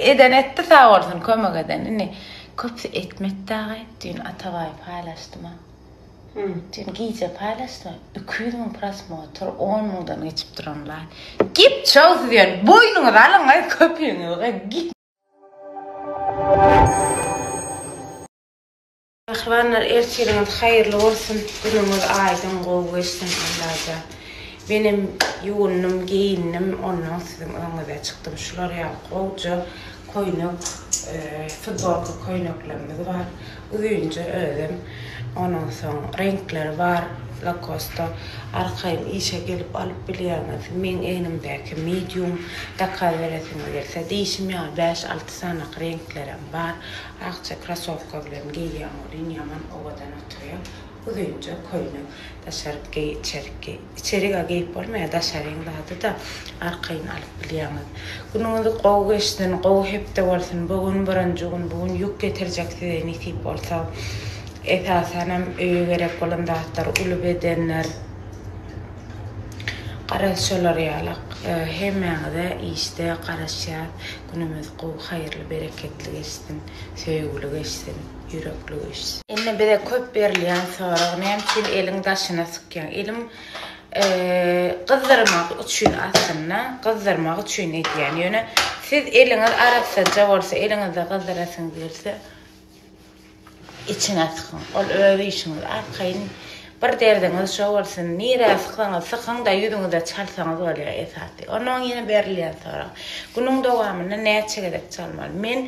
Eden etdi sag bolsun kömek eden indi köpsi etmedi dagay düýn Atabaýy paýlaşdyma düýn gije paýlaşdyma iki ýüz müň prosmotr on müňden geçip duran laýk git çow siz ýöne boýnuňyzy alyňaý köpügiňizi goýuň git. Pälwanlar ertiriňiz haýyrly bolsun günüňiz aýdyň gowy geçsin Allajan menem ýuwundym geýindim ondan siziň öňüňize çykdym şular ýaly gowja koýnek futbolka köýneklerimiz bar uzynja özem ondan soň reňkleri bar lakosta arkaýyn işe gelip alyp bilýäňiz meň egnimdäki medium zakaz beresiňiz gelse diýşim ýaly bäş alty sanaky reňklerem bar Akja krasowka bilen geýýäň welin ýaman owadan oturýaň. Uzynja köýnek daşaryk geý içerik geý. Içerik-ä geýip bolmaýar daşaryň zady-da arkaýyn alyp bilýäňiz. Günüňizi gowy geçsin gowy hepde bolsun bu gün birinji gün bu gün ýük getirjek size nesip bolsa. Esasanam öýe gerek bolan zatlar uly bedenler garaz şolar ýalak hemmäňize işde garaşýas. Günümiz gowy haýyrly bereketli geçsin, söýgüli geçsin, ýürekli geçsin. Indi bize köp berilýän sorag näme üçin eliň daşyna sykýaň? Elim gyzdyrmak üçin aslynda gyzdyrmak üçin edýän. Ýöne siz eliňiz arassaja bolsa, eliňizde gyzdyrasyňyz gelse, Içiňe sykyň. Ol öz işiňiz. Arkaýyn bir derdiňiz şo bolsun. Nirä sykaňyz, sykyň-da, ýüzüňize çalsaňyz bolýar esasy. Onnoň ýene berilýän sorag. Günüň dowamynda näçe gezek çalmaly? Men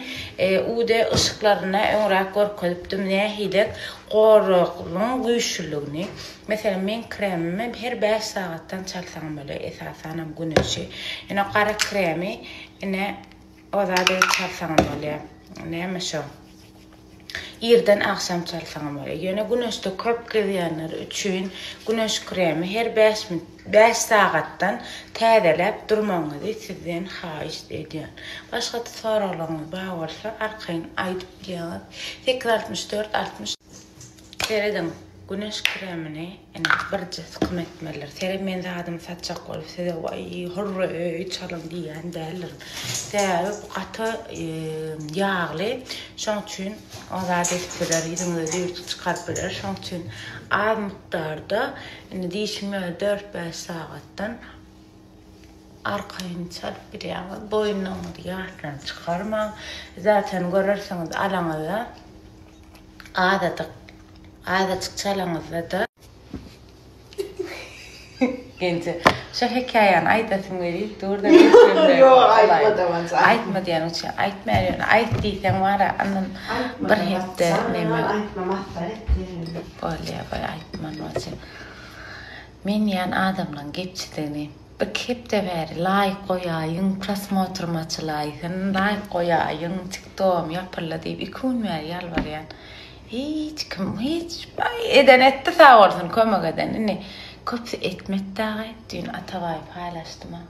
UD yşyklarynda öňräk görkezipdim nähidek goragyň güýçlüligini. Meselem, meň kremimi her bäş sagatdan çalsaň bolýar, esasanam güneşi. Ýöne gara kremi ine O zady çalsaňam bolýar. Näme şo? Irden agşam çalsaňam bolýar. Ýöne güneşde köp gezýänler üçin güneş kremi her bäş min bäş sagatdan täzeläp durmagyňyzy sizden haýyş edýän. Başga-da soraglaryňyz bar bolsa, arkaýyn aýdyp ýazyň. Sekiz altmyş dört altmyş. Serediň, güneş kremini ene birje sykym etmelidir. Seret men zadymy satjak bolup size waý hurra öý çalyň diýýän däldirin. Sebäbi bu gaty ýagly. Şoň üçin o zat edip biler, ýüzüňize düýrtgi çykaryp biler. Şoň üçin az mukdarda indi diýşime dört-bäş sagatdan arkaýyn çalyp bilýäňiz. Boýunlaryňyzy ýatdan çykarmaň. Zaten görersiňiz alaňyzda. Azadyk azajyk çalaňyzda-da. Genje, şo hekaýany aýdasym gelip dur-da Ýok, aýtmadam aja. Aýtma diýeniň üçin aýtmaýan ýöne aýt diýseň wara andan bir hepde neme. Aýtmam asla etmeýän. Bolýa goý aýtman bolsa. Men diýýän adamlaň gepçidigini. Iki hepde bäri laýk goýaýyň prosmotrym açylaýsyn laýk goýaýyň tiktogym ýapyldy diýip iki gün bäri ýalbarýan hiç kim hiç eden etdi sag bolsun kömek eden indi köpsi etmedi dagy düýn atabaý paýlaşdyma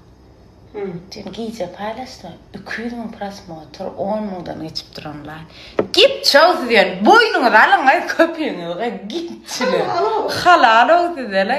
düýn gije paýlaşdyma iki ýüz müň prosmotr on müňden geçip duran laýk git çow siz ýöne boýnuňyzy alyň köpügiňizi goýuň gitçiler halalow sizele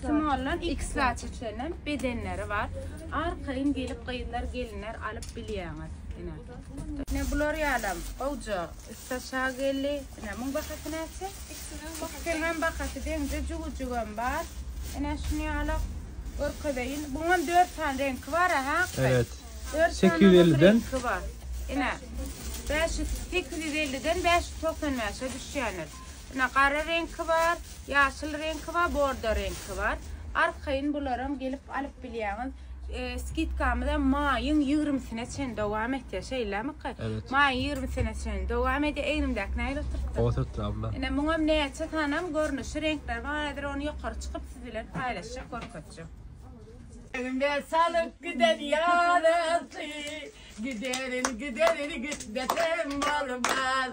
Smollan X zaçeçlerinden bedenleri bar. Arkaýyn gelip gyzlar gelinler alyp bilýäňiz. Ine. Ine bular ýalam gowja üst aşa geldi. Ine muň bahasy näçe? Ikisiniň bahasy deňze jüwüjigem bar. Ine şuny ýala görkezeýin. Buňam 4 sany reňki bar ha. Evet. 850 den. Ine. 500 850 den 595-e düşýänler. Ine, gara reňki bar, ýaşyl reňki bar, bordo reňki bar. Arkaýyn bularam gelip alyp bilýäňiz. E, skidkamyzam maýyň ýigrimisine çen dowam etýär, şeýlemika? Evet. Maýyň ýigrimisine çen dowam edýär. Egnimdäki nähili oturtdy? Oturtdy abla. Ine, muňam näçe sanam görnüşi, reňkleri bar. Häzir ony ýokary çykyp siz bilen paýlaşjak, görkezjek. Egnimde salyp giden ýarasy, giderin, giderin, gitmesem bolmaz.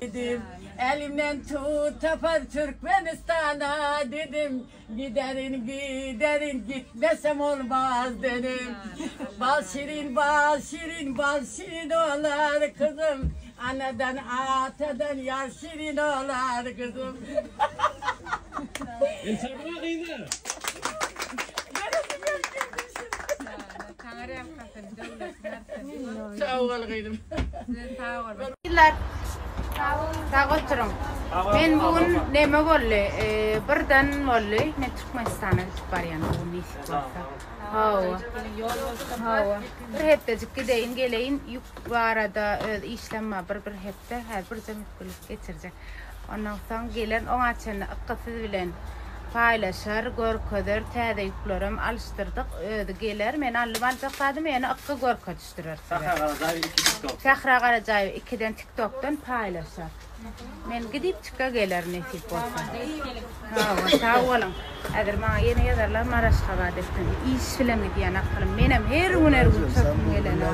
Dedim, elimden tut tapar Türkmenistana dedim, giderin, giderin, gitmesem olmaz dedim. Bal şirin, bal şirin, bal şirin olar kızım, anadan, atadan yar şirin olar kızım. Entegre kızlar. Saňa rehim katyny döwlet bersin. Sag bol gyzym. Size sag boluň. Millet, sag oturyň. Men bu gün neme boldy? Birden boldy. Men Türkmenistana gidip barýan bu gün nesip bolsa. Hawa. Hawa. Bir hepdejik gideýin, geleýin. Ýük barada öz işlem bar, bir-bir hep. Gitdi, hä bir zümüt gülüp geçirjek. Ondan soň gelen oňa çenli ykky siz bilen paýlaşar, görkezer, täze ýüklerem alyşdyrdyk. Özi geler, men alnym aljak zadymy ýene ykky görkezişdirer size. Sähra Garajaýew iki tiktok. Sähra Garajaýew ikiden tiktokdan paýlaşar. Men gidipçikge geler nesip bolsa. Hawa sag boluň. Häzir maňa ýene ýazarlar Maraşgabada ekdim. Iş bilen gidýän akylym. Menem her gün her gün çöpüm gelene.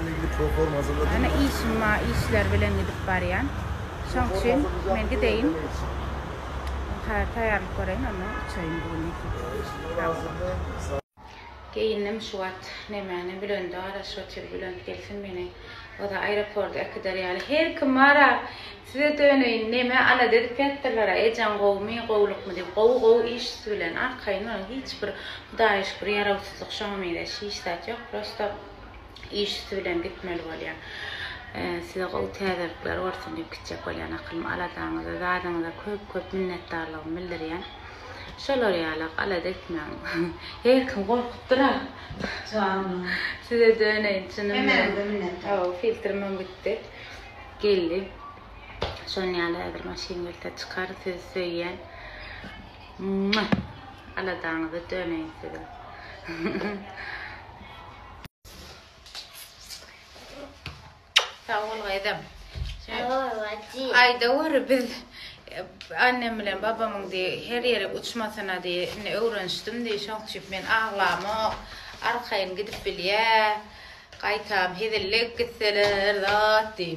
Ana işim ma işler bilen gidip barýan. Şoň üçin men gideýin. Taýýarlyk göreýin ondan uçaýyn bu gün. Sag boluň. Geýindim şu wagt nemäni Bülendara şotyr Bülent gelsin meni yza aeroporda äkider ýaly her kim bara size döneýin neme alada edip ýatdyrlara ejeň gowumy gowlukmy diýip gowy gowy iş siz bilen arkaýyn boluň hiç bir hudaýyşgür ýarawsyzlyk şoňa meňzeş hiç zat ýok prosto iş üsti bilen gitmeli bolýa. Size gowy täzelikler bolsun diýip gitjek bolýan akylym aladaňyza zadyňyza köp köp minnetdarlygymy bildirýän. Şolar ýalak alada etmäň. Her kim gorkup durar. Size döneýin çynym Hemäňize minnetdar. Hawa filtrmem gitdi. Geldi. Şon ýaly häzir maşyn gelse çykar sizi söýýän. Aladaňyza döneýin siziň. Sag bol gyzym. Aýda göre biz annem bilen babamyň diý her ýere uçmasyna diý indi öwrenişdim diý şoň üçin men aglamok arkaýyn gidip bilýä gaýtam hezillik gitseler zat diý.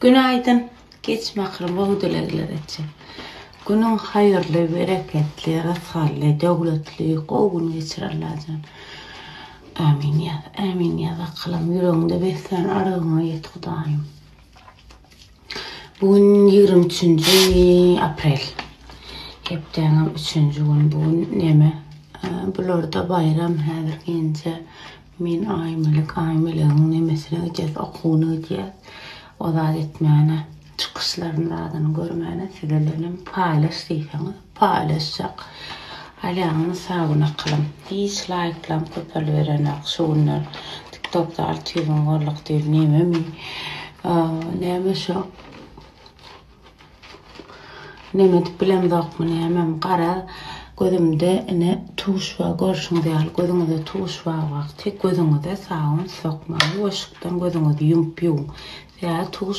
Günaýdyn Geç mähri bol dilegler etjek. Günüň haýyrly, bereketli, rysgally, döwletli, gowy gün geçir Allajan. Ämin ýaz, ämin ýaz akylam, ýüregiňde beslän arzygyňa ýet Hudaýym. Bu gün ýigrimi üçünji aprel. Hepdäniň üçünji güni bu gün näme? Bularda baýram häzir gelince men Aýmelek, Aýmelegiň nemesine gidýär, okuwyna gidýär. O zat etmäne, çykyşlaryny zadyny görmäne size bilen hem paýlaş diýseňiz. Paýlaşjak. Alýaňyz mysawy nakylyň. Hiç laýklaryň köpeliberenok şu günler. Tiktokda alty ýüz müň bolduk diýip nememi. Näme şo. Neme edip bilemzokmy nämem gara gözümde ine tuş bar görşüňiz ýaly gözüňize tuş bar wagty gözüňize sabyn sokmaň we yşykdan gözüňizi ýumup ýuwuň. Sebäbi tuş